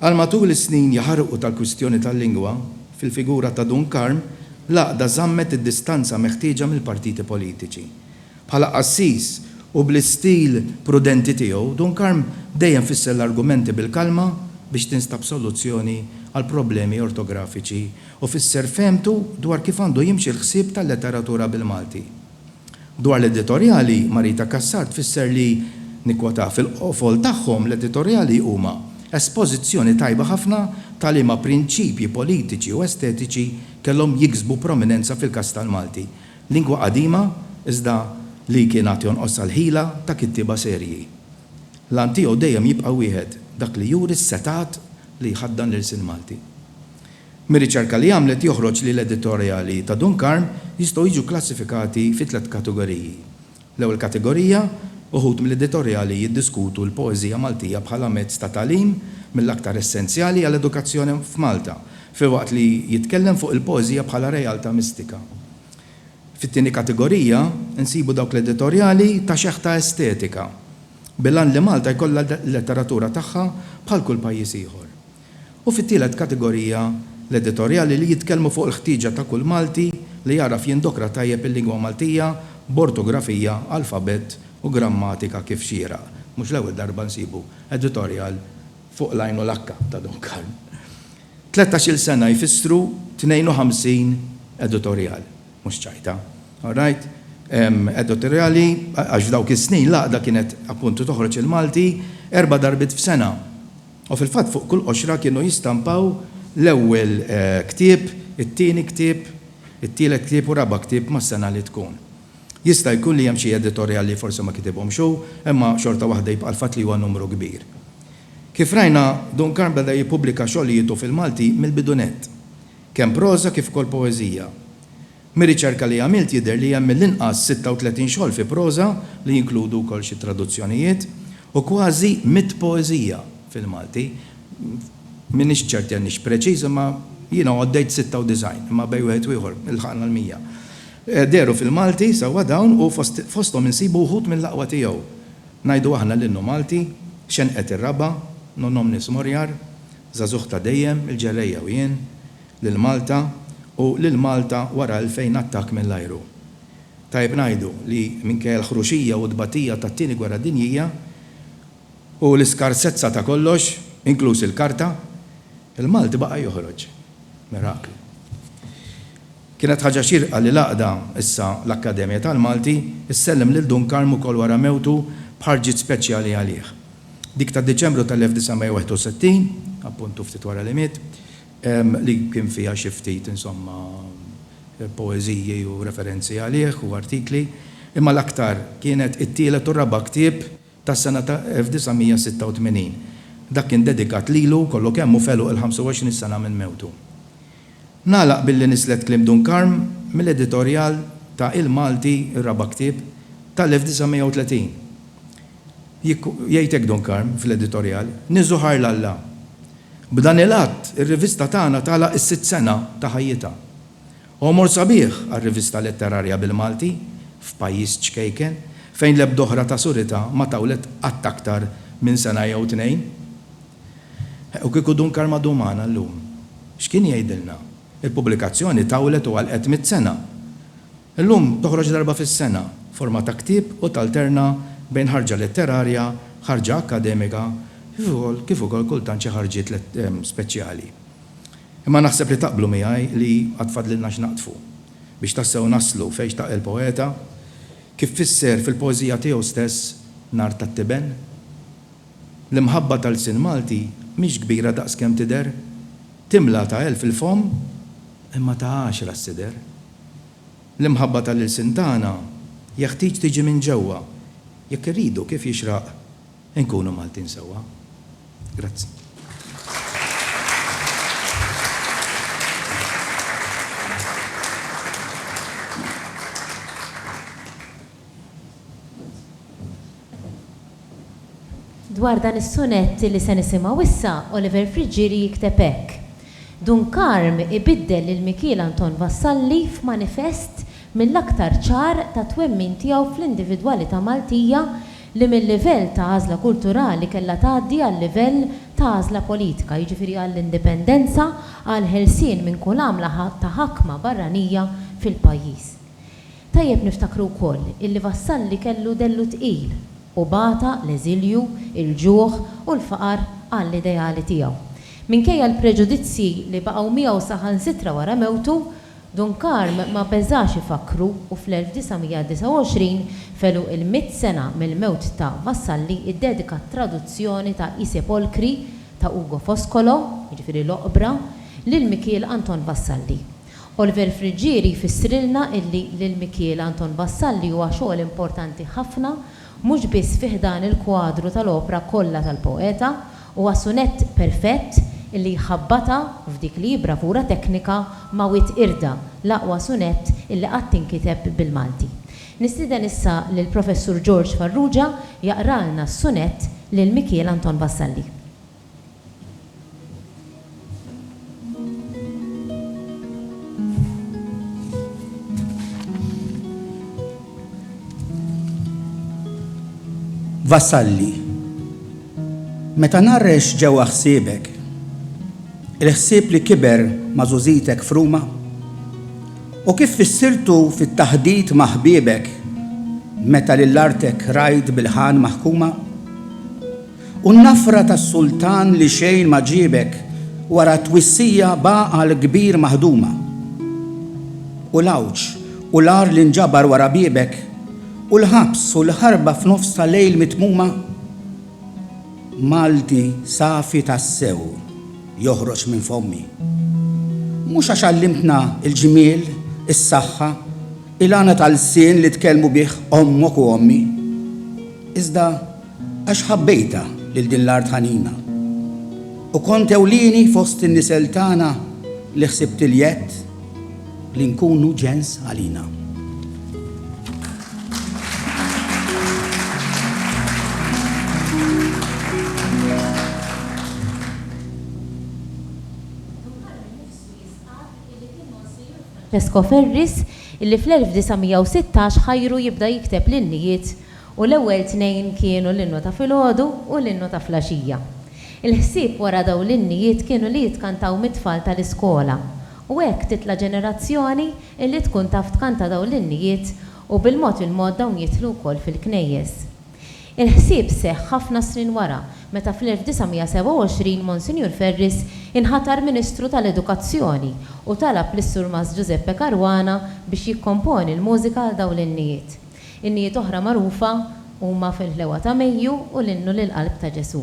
Għal matul is-snin jaħarqu tal-kwistjoni tal-lingwa, fil-figura ta' Dun Karm, l-Għaqda żammet id-distanza meħtieġa mill-partiti politiċi. Bħala qassis u bl-istil prudenti tiegħu, Dun Karm dejjem fisser l-argumenti bil-kalma biex tinstab soluzzjoni għall-problemi ortografiċi u fisser fehmtu dwar kif għandu jimxi l-ħsieb tal-letteratura bil-Malti. Dwar l-editorjali, Marita Cassar tfisser li, nikkwotah, fil-qofol tagħhom l-editorjali huma espożizzjoni tajba ħafna ta' liema prinċipji politiċi u estetiċi kellhom jiksbu prominenza fil-każ tal-Malti, lingwa qadima iżda li kien għad jonqosha l-ħila ta' kittieba serji. L-għan tiegħu dejjem jibqa' wieħed, dak li juri s-setgħat li jħaddan l-ilsien Malti. Mir-riċerka li għamlet joħroġ li l-editorjali ta' Dun Karm jistgħu jiġu kklassifikati fi tliet kategoriji. L-ewwel kategorija, uħud mill-editorjali jiddiskutu l-poeżija Maltija bħala mezz ta' tagħlim mill-aktar essenzjali għall-edukazzjoni f'Malta, filwaqt li jitkellem fuq il-poeżija bħala realtà mistika. Fit-tieni kategorija, insibu dawk l-editorjali ta' xeħ ta' estetika, bil-għan li Malta jkollha l-letteratura tagħha bħal kull pajjiż ieħor. U fit-tielet kategorija, l-editorjali li jitkellmu fuq il-ħtieġa ta' kull Malti li jagħraf jindokra tajjeb il-lingwa Maltija b'ortografija, alfabett u grammatika kif xieraq. Mhux l-ewwel darba nsibu editorjal fuq l-għajn u l-akka ta' Don Karl. Tlettax-il sena jfissru 52 editorjal. Mhux ċajta. All right? Editorjali, għax f'dawk is-snin l-għaqda kienet appuntu toħroġ il-Malti erba' darbiet f'sena. U fil-fatt fuq kull qoxra kienu jistampaw l-ewwel ktieb, it-tieni ktieb, it-tielet ktieb u raba' ktieb mas-sena li tkun. Jista' jkun li hemm xi editorjal li forsi ma kitibhomx hu, imma xorta waħda jibqa' l-fatt li huwa numru kbir. Kif rajna, Duncan beda jippubblika xogħlietu fil-Malti mill-bidunett, kemm proża kif ukoll poeżija. Mir-riċerka li għamilt jidher li hemm mill-inqas 36 xogħol fi proża, li jinkludu wkoll xi traduzzjonijiet, u kważi mitt poeżija fil-Malti. M'iniex ċert li għandniex preċiż, imma jiena għoddejt 96, imma bejn wieħed u ieħor ilħaqna l-mija. Dehru fil-Malti sewwa dawn u fosthom insibu wħud mill-aqwa tiegħu, ngħidu aħna l-Innu Malti, Xenqet ir-Raba', Non Omnis Moriar, Żagħżugħ ta' Dejjem, Il-Ġerrejja u Jien, lil Malta u lil Malta wara 2000 attakk mill-ajru. Tajjeb ngħidu li minkejja l-ħruxija u t-tbatija tat-Tieni Gwerra Dinjija u l-iskarsezza ta' kollox, inkluż il-karta, il-Malti baqa' joħroġ. Miraklu. Kienet ħaġa xierqa li l-għaqda, issa l-Akkademja tal-Malti, issellem lil Dun Karm ukoll wara mewtu b'ħarġiet speċjali għalih. Dik ta' Diċembru tal-1961, appuntu ftit wara li miet, li kien fiha xi ftit, insomma, poeżiji u referenzi għalih u artikli, imma l-aktar kienet it-tielet u r-raba' ktieb tas-sena ta' 1986. Dak kien dedikat lilu kollu kemm u f'għeluq il-25 sena minn mewtu. Nagħlaq billi nislet kliem Dun Karm mill-editorjal ta' Il-Malti, ir-raba' ktieb, tal-1930. Jgħid hekk Don Karm fl-editorjal, Niżżu ħajr 'l Alla. B'dan il-att, ir-rivista tagħna tagħlaq is-sitt sena ta' ħajjitha. Għomor sabiħ għar-rivista letterarja bil-Malti, f'pajjiż ċkejken, fejn l-ebda oħra ta' suritha ma tawlet qatt aktar minn sena jew tnejn. U kieku Dun Karm għadu magħna llum, x'kien jgħidilna? Il-pubblikazzjoni tawlet u għalqet mitt sena. Illum toħroġ darba fis-sena, forma ta' ktieb u talterna bejn ħarġa letterarja, ħarġa akkademika kif ukoll kif ukoll kultant xi ħarġiet speċjali. Imma naħseb li taqblu miegħi li għad fadlilna x'naqdfu biex tassew naslu fejn xtaq il-poeta kif fisser fil-poeżija tiegħu stess Nhar tat-Tiben? L-imħabba ta' lsien Malti mhix kbira daqs kemm tidher, timla ta' elf il-fomm imma ta' għaxra s-sider. L-imħabba tal-ilsien tagħna jeħtieġ tiġi minn ġewwa jekk irridu kif jixraq inkunu Maltin sewwa. Grazzi. Dwar dan is-sunett li se nisimgħu issa, Oliver Friggieri jikteb hekk, Dun Karm ibiddel lil Mikiel Anton Vassalli f'manifest mill-aktar ċar tat-twemmin tiegħu fl-individwalità Maltija li mil-livell ta' għażla kulturali kellha tgħaddi għal-livell ta' għażla politika, jiġifieri għall-indipendenza, għall-ħelsien minn kull għamla ta' ħakma barranija fil-pajjiż. Tajjeb niftakru wkoll illi Vassalli kellu dellu tqil u bata l-eżilju, il-ġuħ u l-faqar għall-ideali tiegħu. Minkejja l-preġudizzji li baqgħu miegħu saħansitra wara mewtu, Dun Karm ma beżax ifakkru u fl-1929, f'għeluq il-mitt sena mill-mewt ta' Vassalli ddedika t-traduzzjoni ta' I Sepolcri ta' Ugo Foscolo, jiġifieri L-Oqbra, lil Mikiel Anton Vassalli. Oliver Friggieri jfissrilna illi lil Mikiel Anton Vassalli huwa xogħol importanti ħafna mhux biss fi ħdan il-kwadru tal-opra kollha tal-poeta, huwa sunett perfett illi jħabbatha f'dik li hi bravura teknika ma' Wied Irda, l-aqwa sunett illi qatt inkiteb bil-Malti. Nistieden issa lill-Professur George Farrugia jaqralna s-sunett lil Mikiel Anton Vassalli. Vassalli, meta narrex ġewwa ħsiebek, il-ħsieb li kiber mażużitek fruma, u kif fissirtu fit-taħdit ma' ħbiebek meta lil artek rajt bil-ħan maħkuma, U n-nafra tas-sultan li xejn ma ġiebek wara t-twissija b'għaqal kbir maħduma. U l-għawġ u l-agħar li nġabar wara biebek, u l-ħabs u l-ħarba f'nofs ta' lejl mitmuma? Malti safi tassew joħroġ minn fommi. Mhux għax għallimtna l-ġmiel, is-saħħa, il-għana ta' lsien li tkellmu bih ommok u ommi. Iżda Għax ħabbejtha lil din l-art ħanina, U kont ewlieni fost in-nisel tagħna li ħsibt il-jedd li nkunu ġens għalina. Francesco Ferris, illi fl-1916 ħajru jibda jikteb l-innijiet U l-ewwel tnejn kienu l-innu ta' filgħodu u l-innu ta' flaxija. Il-ħsieb wara dawn l-innijiet kienu li jitkantaw mit-tfal tal-iskola u hekk titla' ġenerazzjoni illi tkun taf tkanta dawn l-innijiet u bil-mod il-mod dawn jidħlu wkoll fil-knejjes. Il-ħsieb seħħ ħafna snin wara meta fl-1927 Monsinjur Ferris inħatar Ministru tal-Edukazzjoni u talab lis-Surmast Giuseppe Caruana biex jikkomponi l-mużika għal dawn l-innijiet. Innijiet oħra magħrufa huma Fil-Ħlewwa ta' Mejju u l-Innu lill-Qalb ta' Ġesù.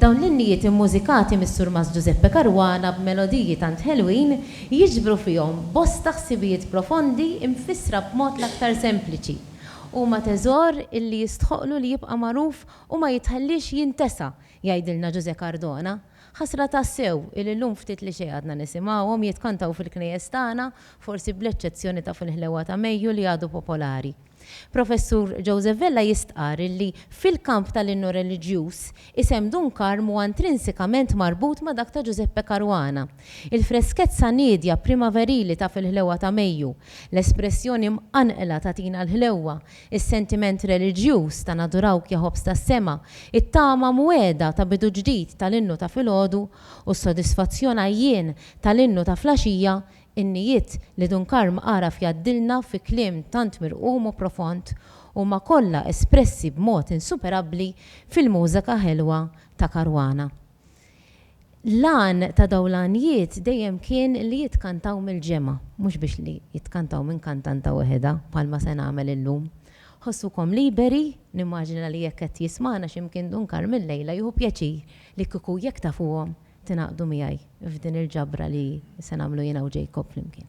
Dawn l-innijiet immużikati mis-Surmast Ġużeppe Caruana b'melodiji tant ħelwin jiġbru fihom bosta ħsibijiet profondi mfissra b'mod l-aktar sempliċi. Huma teżor li jistħoqqlu li jibqa' magħruf u ma jitħalliex jintesa, jgħidilna Ġużè Cardona. Ħasra tassew illi llum ftit li xejn għadna nisimgħuhom jitkantaw fil-knejjes tagħna, forsi bl-eċċezzjoni ta' fil-ħlewwa ta' Mejju li għadu popolari. Professur Joseph Vella jistqarr illi fil-kamp tal-innu reliġjuż, isem Dun Karm huwa intrinsikament marbut ma' dak ta' Ġużeppe Caruana. Il-freskezza niedja primaverili ta' fil-ħlewwa ta' Mejju, l-espressjoni mqanqla ta' Tina l-Ħlewwa, Is-sentiment reliġjuż ta' Nadurawk ja ħobż tas-sema, it-tama mwegħda ta' bidu ġdid tal-innu ta' filgħodu u s-sodisfazzjon għajjien tal-innu ta' flaxija, innijiet li Dun Karm għaraf jgħaddilna fi kliem tant mirqum u profond, huma kollha espressi b'mod insuperabbli fil-mużeka ħelwa ta' Caruana. L-għan ta' dawn l-għanjiet dejjem kien li jitkantaw mill-ġemgħa, mhux biex li jitkantaw minn kantanta weħedha, bħalma se nagħmel illum. Ħossukom liberi, nimmaġina li jekk qed jismagħna xi mkien Dun Karm illejla jieħu pjaċir li kieku jekk tafuhom tingħaqdu miegħi f'din il-ġabra li se nagħmlu jiena u Jacob flimkien.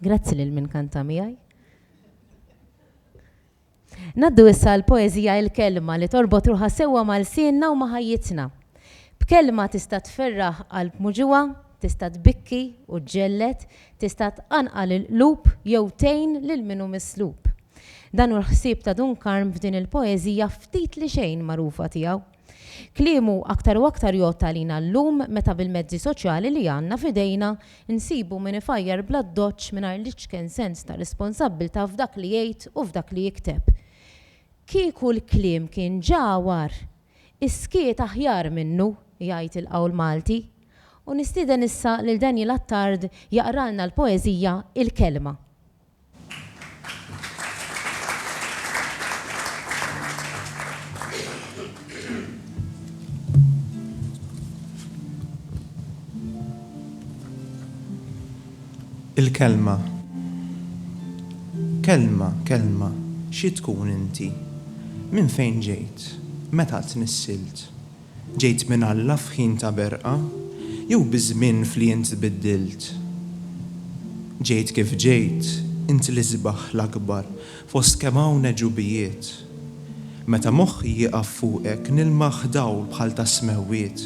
Grazzi lil min kanta miegħi. Naddu issa l-poezija il-kelma li torbot ruħa sewwa mal-sienna u maħajjitna. B'kelma tista' tferraħ qalb muġuwa, tista' tbikki u ġġellet, tista' tqanqal il-qlub jew tgħin lil minu mislub. Dan hu l-ħsieb ta' Dun Karm f'din il-poeżija ftit li xejn magħrufa tiegħu. Kliemu aktar u aktar jgħodd għalina llum meta bil-mezzi soċjali li għandna f'idejna nsibu min ifajjar bl-addoċċ mingħajr l-iċken sens ta' responsabbiltà f'dak li jgħid u f'dak li jikteb. Kieku l-kliem kien ġagħwar, is-skiet aħjar minnu, jgħid il-qawl Malti. U nistieden issa lil Daniel Attard jaqralna l-poeżija Il-Kelma. Il-kelma. Kelma, kelma, xi tkun inti? Minn fejn ġejt? Meta tnissilt? Ġejt minn Alla f'ħin ta' berqa, jew biż-żmien f'li int tbiddilt? Ġejt kif ġejt, int l-isbaħ l-akbar fost kemm hawn għeġubijiet. Meta moħħi jieqaf fuqek nilmaħ dawl bħal tas-smewwiet.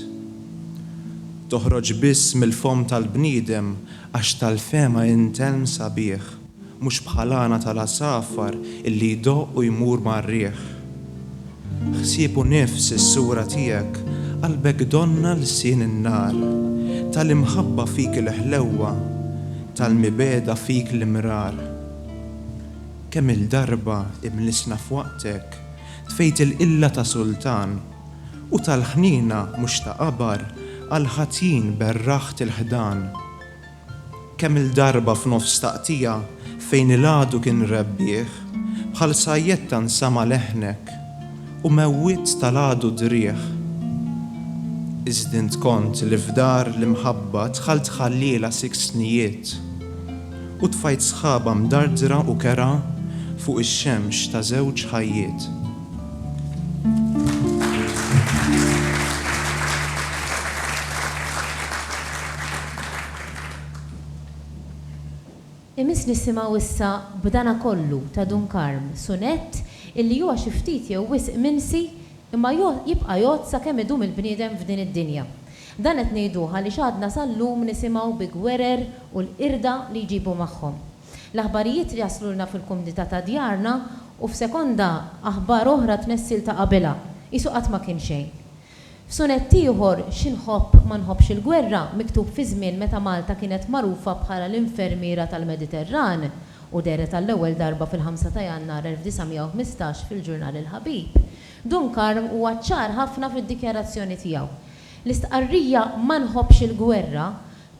Toħroġ biss mill-fomm tal-bniedem għax tal-fehma int għelm sabiħ. Mhux bħal għana tal-għasafar illi jdoqq u jmur mar-riħ. Ħsieb u nifs is-sura tiegħek, qalbek donnha lsien in-nar. Ta' l-imħabba fik il-ħlewwa, tal-mibegħda fik l-imrar. Kemm-il darba imlissna f'waqtek, tfejt il-qilla ta' sultan, u tal-ħniena mhux ta' qabar għall-ħatjin berraħt il-ħdan. Kemm-il darba f'nofs taqtigħa fejn il-għadu kien rebbieħ, bħal sajjetta nsama' leħnek u mewwiet tal-għadu d-driegħ. Iżd int kont li f'dar l-imħabba dħalt ħalliela sikt snijiet u tfajt sħaba mdardra u kerha fuq ix-xemx ta' żewġ ħajjiet. Imiss nisimgħu issa B'dana kollu ta' Dun Karm, sunett illi huwa xi ftit jew wisq mimsi imma jgħodd jibqa' jgħodd sakemm idum il-bniedem f'din id-dinja. Dan qed ngħiduh għaliex għadna sal-lum nisimgħu bi gwerer u l-qirda li jġibu magħhom. L-aħbarijiet jaslulna fil-kumdità ta' djarna u f'sekonda aħbar oħra tnessil ta' qabilha. Qisu qatt ma kien xejn. F'sunett ieħor, Xi nħobb, ma nħobbx il-gwerra, miktub fi żmien meta Malta kienet magħrufa bħala l-infermiera tal-Mediterran u dehret għall-ewwel darba fil-ħamsa ta' Jannar 1915 fil-ġurnal Il-Ħabib, Dun Karm huwa ċar ħafna fid-dikjarazzjoni tiegħu. L-istqarrija Ma nħobbx il-gwerra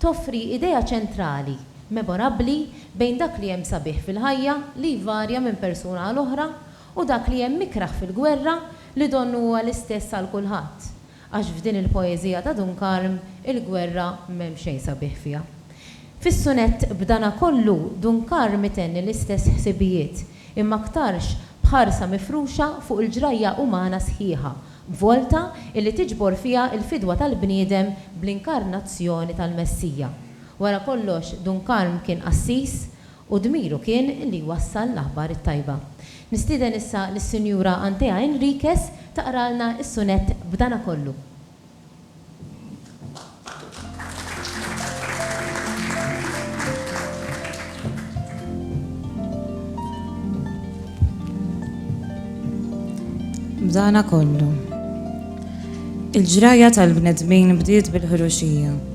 toffri idea ċentrali, memorabbli bejn dak li hemm sabiħ fil-ħajja, li jvarja minn persuna għal oħra, u dak li hemm ikrah fil-gwerra, li donnu huwa l-istess għal kulħadd, għax f'din il-poeżija ta' Dun Karm il-gwerra m'hemm xejn sabiħ fiha. Fis-sunett B'dana kollu Dun Karm itenni l-istess ħsibijiet, imma aktarx b'ħarsa mifruxa fuq il-ġrajja umana sħiħa, b'volta illi tiġbor fiha l-fidwa tal-bniedem bl-inkarnazzjoni tal-Messija. Wara kollox Dun Karm kien qassis u dmiru kien li jwassal l-aħbar it-tajba. Nistieden issa lis-Sinjura Antea Enriquez taqralna s-sunett B'dana kollu. B'dana kollu. Il-ġrajja tal-bnedmin bdiet bil-ħruxija.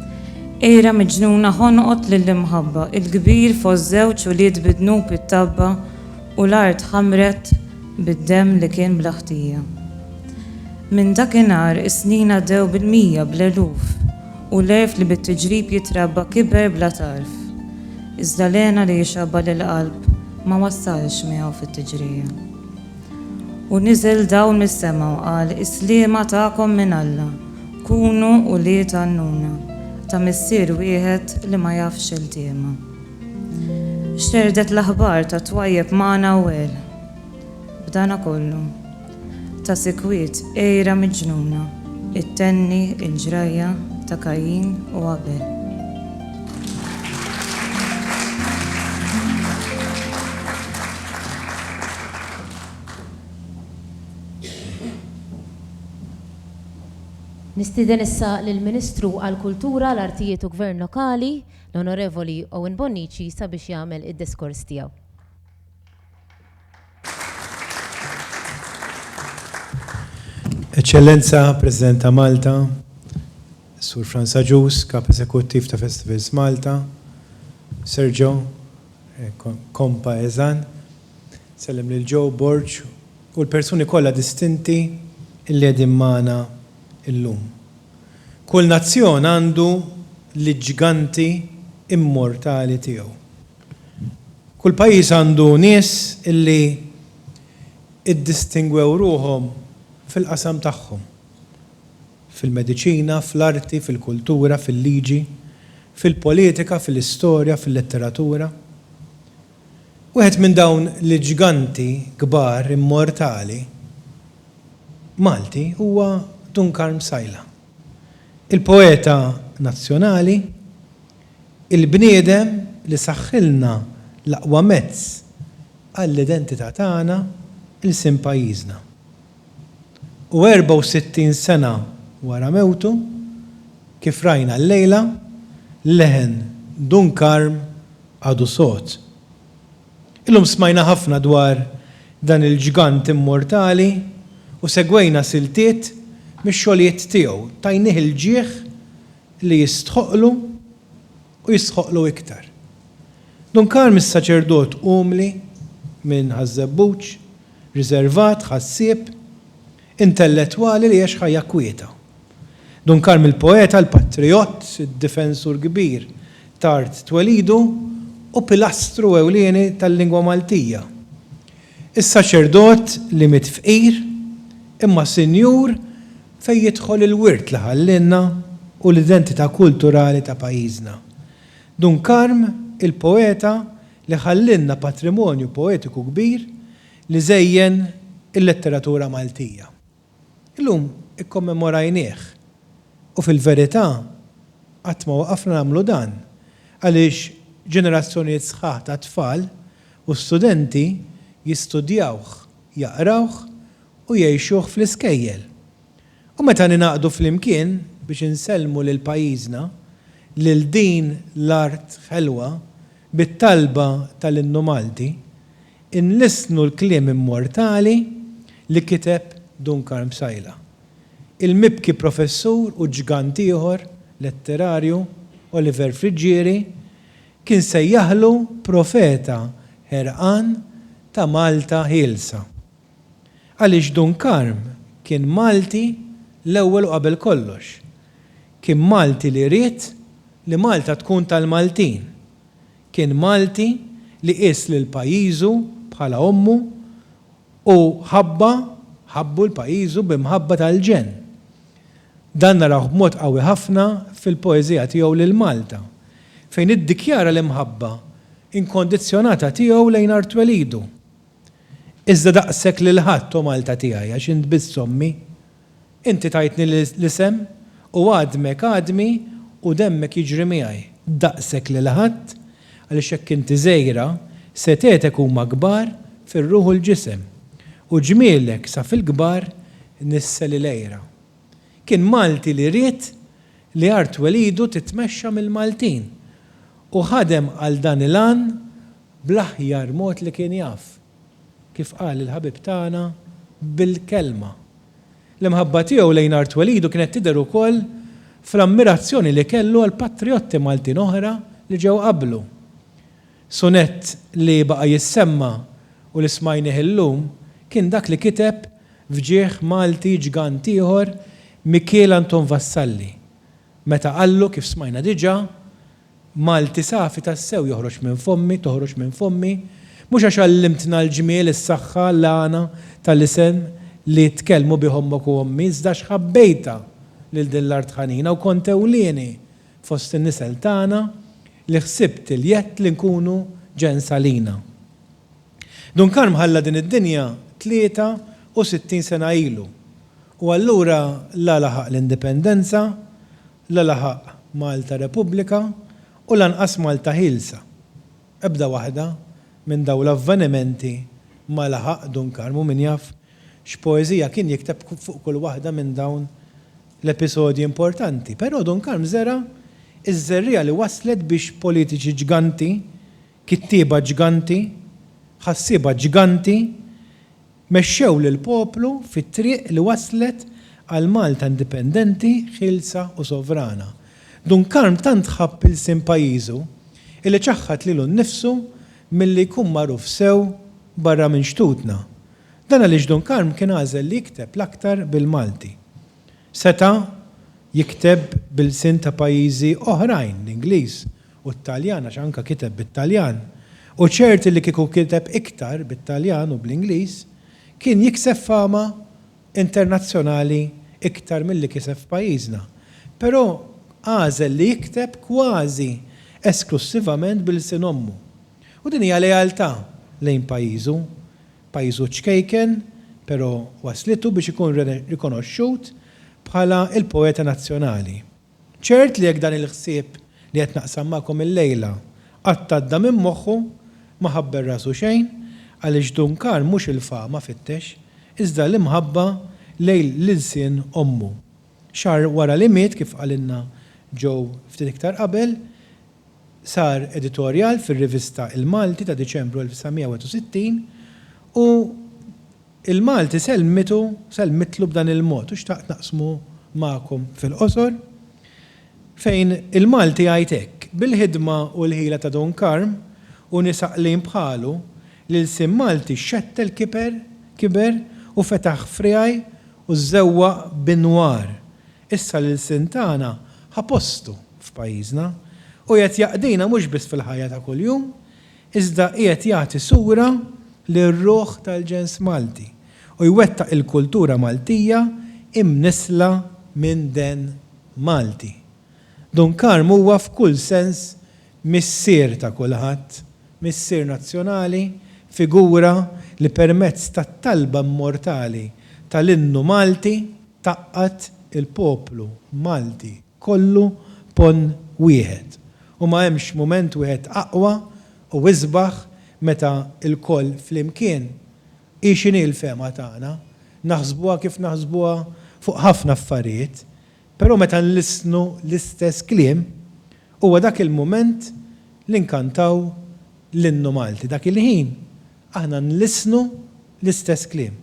Qiegħra miġnuna ħonqot lill-imħabba, il-kbir fost żewġ ulied bi dnub it-tgħabba u l-art ħamret bid-demm li kien bla ħtija. Minn dakinhar is-snin għaddew bil-mija, bl-eluf, u l-għerf li bit-tiġrib jitrabba kiber bla tarf. Iżda l-hena li jixabba lill-qalb ma wassalx miegħu fit-tiġrija. U niżel dawl mis-sema u qal, Is-sliema tagħkom minn Alla. Kunu ulied għannuna, ta' Missier wieħed li ma jafx xeltiema. Xerdet l-aħbar tat-twajjeb magħna u għel. B'dana kollu, ta' sikwit għira miġnuna ittenni l-ġrajja ta' Kajjin u Abel. Nistieden issa lill-Ministru għall-Kultura, l-Artijiet u Gvern Lokali, l-Onorevoli Owen Bonnici sabiex jagħmel id-diskors tiegħu. Eċċellenza President ta' Malta, Sur Frans Agius, Kap Eżekuttiv ta' Festivals Malta, Sergio, eh, kompa eżan, Sellem lil Joe Borg u l-persuni kollha distinti li qegħdin magħna llum. Kull nazzjon għandu l-ġganti immortali tiegħu. Kull pajjiż għandu nies li iddistingwew ruħhom fil-qasam tagħhom, fil-mediċina, fl-arti, fil-kultura, fil-liġi, fil-politika, fil-istorja, fil-letteratura. Wieħed minn dawn l-ġganti kbar immortali Malti huwa Dun Karm Sajla. Il-poeta nazzjonali, il-bniedem li saħħilna l-aqwa mezz għall-identità tagħna, ilsien pajjiżna. U 64 sena wara mewtu, kif rajna llejla, leħen Dun Karm għadu sod. Illum smajna ħafna dwar dan il-ġgant immortali u segwejna siltiet mix-xogħlijiet tiegħu, tajnih il-ġieħ li jistħoqqlu u jistħoqqlu iktar. Dun Karm is-saċerdot umli minn Ħaż-Żebbuġ, riżervat, ħassieb, intellettwali li għex ħajja kwieta. Dun Karm il-poeta, il-patrijott, id-difensur kbir t'art twelidu u pilastru ewlieni tal-lingwa Maltija. Is-saċerdot li miet fqir imma sinjur fejn jidħol il-wirt li ħallielna u l-identità kulturali ta' pajjiżna. Dun Karm il-poeta li ħallielna patrimonju poetiku kbir li żejjen il-letteratura Maltija. Illum ikkommemorajnieh u fil-verità qatt ma waqafna nagħmlu dan għaliex ġenerazzjonijiet sħaħ ta' tfal u studenti jistudjawh, jaqrawh u jgħixuh fl-iskejjel. U meta ningħaqdu flimkien biex insellmu lil pajjiżna, lil din l-art ħelwa, bit-talba tal-Innu Malti, inlissnu l-kliem immortali li kiteb Dun Karm Psaila, il-mibki professur u ġgant ieħor letterarju, Oliver Friggieri, kien sejjaħlu profeta ħerqan ta' Malta ħielsa. Għaliex Dun Karm kien Malti l-ewwel u qabel kollox. Kien Malti li ried li Malta tkun tal-Maltin. Kien Malti li qies lil pajjiżu bħala ommu u ħabba, ħabbu l-pajjiżu b'imħabba tal-ġenn. Dan narawh b'mod qawwi ħafna fil-poeżija tiegħu lil Malta, fejn iddikjara l-imħabba inkondizzjonata tiegħu lejn Art Twelidu. Iżda daqshekk lil ħadd, O Malta tiegħi, għax int biss ommi. Inti tajtni l-isem, u għadmek għadmi u demmek jiġri miegħi. Daqshekk lil ħadd, għaliex jekk inti żgħira, setgħetek huma kbar fir-ruħ u l-ġisem, u ġmielek sa fil-kbar nissel il-għira. Kien Malti li ried li art twelidu titmexxa mill-Maltin, u ħadem għal dan il-għan bl-aħjar mod li kien jaf, kif qal il-ħabib tagħna, bil-kelma. L-imħabba tiegħu lejn art twelidu kienet tidher ukoll fl-ammirazzjoni li kellu għall-patrijotti Maltin oħra li ġew qablu. Sunett li baqa' jissemma u li smajnih illum kien dak li kiteb f'ġieħ Malti ġgant ieħor Mikiel Anton Vassalli meta qallu, kif smajna diġà, Malti safi tassew joħroġ minn fommi, toħroġ minn fommi, mhux għax għallimtna l-ġmiel, is-saħħa, l-għana tal-isem li tkellmu bih ommok u ommi, iżda għax ħabbejtha lil din l-art ħanina u kont ewlieni fost in-nisel tagħna li ħsibt il-jedd li nkunu ġenn salina. Dun Karm ħalla din id-dinja 63 sena ilu u allura la laħaq l-Indipendenza La laħaq Malta Repubblika u lanqas Malta Ħielsa. Ebda waħda minn dawn l-avvenimenti ma laħaq Dun Karm u min jaf x'poeżija kien jikteb fuq kull waħda minn dawn l-episodji importanti. Però Dun Karm żera' ż-żerriegħa li wasslet biex politiċi ġganti, kittieba ġganti, ħassieba ġganti, Mexxew lill-poplu fit-triq li wasslet għal Malta indipendenti, ħielsa u sovrana. Dun Karm tant ħabb ilsien pajjiżu illi ċaħħad lilu nnifsu milli jkun magħruf sew barra minn xtutna. Dan għaliex Dun Karm kien għażel li jikteb l-aktar bil-Malti. Seta' jikteb b'ilsien ta' pajjiżi oħrajn, l-Ingliż u t-Taljan għax anke kiteb bit-Taljan, u ċert li kieku kiteb iktar bit-Taljan u bl-Ingliż, kien jikseb fama internazzjonali iktar milli kiseb f'pajjiżna. Però għażel li jikteb kważi esklussivament b'ilsien ommu. U din hija lealtà lejn pajjiżu. Pajjiżu ċkejken, però waslitu biex ikun rikonoxxut bħala l-poeta nazzjonali. Ċert li jekk dan il-ħsieb li qed naqsam magħkom illejla qatt għadda minn moħħu, ma ħabber rasu xejn, għaliex Duncan mhux il-fama fittex, iżda l-imħabba lejl l-ilsien ommu. Xahar wara li miet, kif qalilna Joe ftit iktar qabel, Sar editorjal fir-rivista Il-Malti ta' Diċembru 1961 u Il-Malti sellmitu, sellmitlu b'dan il-mod u xtaqt naqsmu magħkom fil-qosor, fejn Il-Malti jgħid hekk, Bil-ħidma u l-ħila ta' Dun Karm u nies għaqlin bħalu, l-ilsien Malti xxettel kiber u fetaħ friegħi u żewwaq b'inwar Issa l-ilsien tagħna ħa postu f'pajjiżna u qiegħed jaqdina mhux biss fil-ħajja ta' kuljum, iżda qiegħed jagħti sura lir-ruħ tal-ġens Malti u jwettaq il-kultura Maltija imnissla minn den Malti. Dun Karm huwa f'kull sens missier ta' kulħadd, missier nazzjonali, figura li permezz tat-talba immortali tal-innu Malti, tgħaqqad il-poplu Malti kollu ponn wieħed u ma hemmx mument wieħed aqwa u isbaħ meta lkoll flimkien, hi x'inhi l-fehma tagħna, naħsbuha kif naħsbuha fuq ħafna affarijiet, però meta nlissnu l-istess kliem, huwa dak il-mument li nkantaw l-Innu Malti. Dak il-ħin aħna nlissnu l-istess kliem.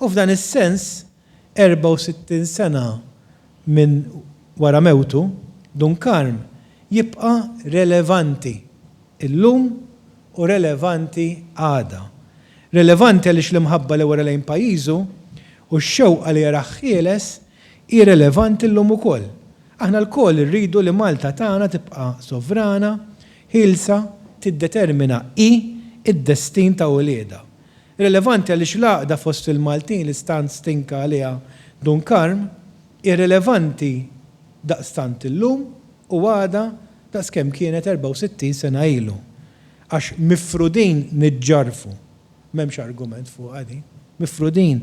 U f'dan is-sens 64 sena minn wara mewtu, Dunkarm jibqa' relevanti llum u relevanti għada. Relevanti għaliex l-imħabba li wera lejn pajjiżu u x-xewqa li jarah ħieles hi relevanti llum ukoll. Aħna lkoll irridu li Malta tagħna tibqa' sovrana, ħielsa, tiddetermina hi d-destin ta' uliedha. Rilevanti għaliex l-għaqda fost il-Maltin li stant stinka għaliha Dun Karm hi rilevanti daqstant illum u għada daqs kemm kienet 64 sena ilu. Għax mifrudin niġġarrfu. M'hemmx argument fuqha din. Mifrudin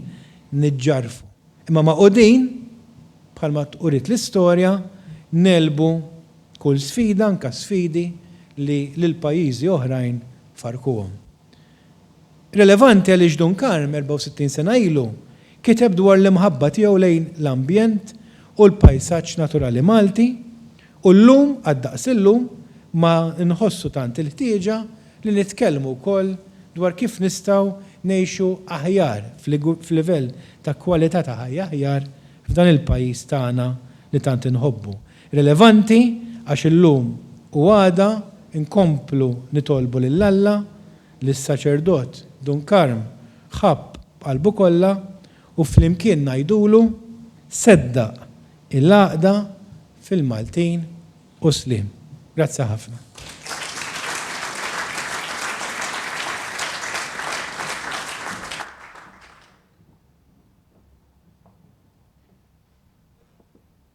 niġġarrfu. Imma magħqudin, bħalma uriet l-istorja, ngħelbu kull sfida anke sfidi li lil pajjiżi oħrajn farrkuhom. Rilevanti għaliex Dun Karm, 64 sena ilu, kiteb dwar l-imħabba tiegħu lejn l-ambjent u l-pajsaġġ naturali Malti u llum, għad-daqs illum, ma nħossu tant il-ħtieġa li nitkellmu wkoll dwar kif nistgħu ngħixu aħjar f'livell ta' kwalità ta' ħajja aħjar f'dan il-pajjiż tagħna li tant inħobbu. Rilevanti għax illum u għada nkomplu nitolbu lil Alla li s-saċerdot Dun Karm ħabb b'qalbu kollha u flimkien ngħidulu, Seddaq il-għaqda fil-Maltin u sliem. Grazzi ħafna.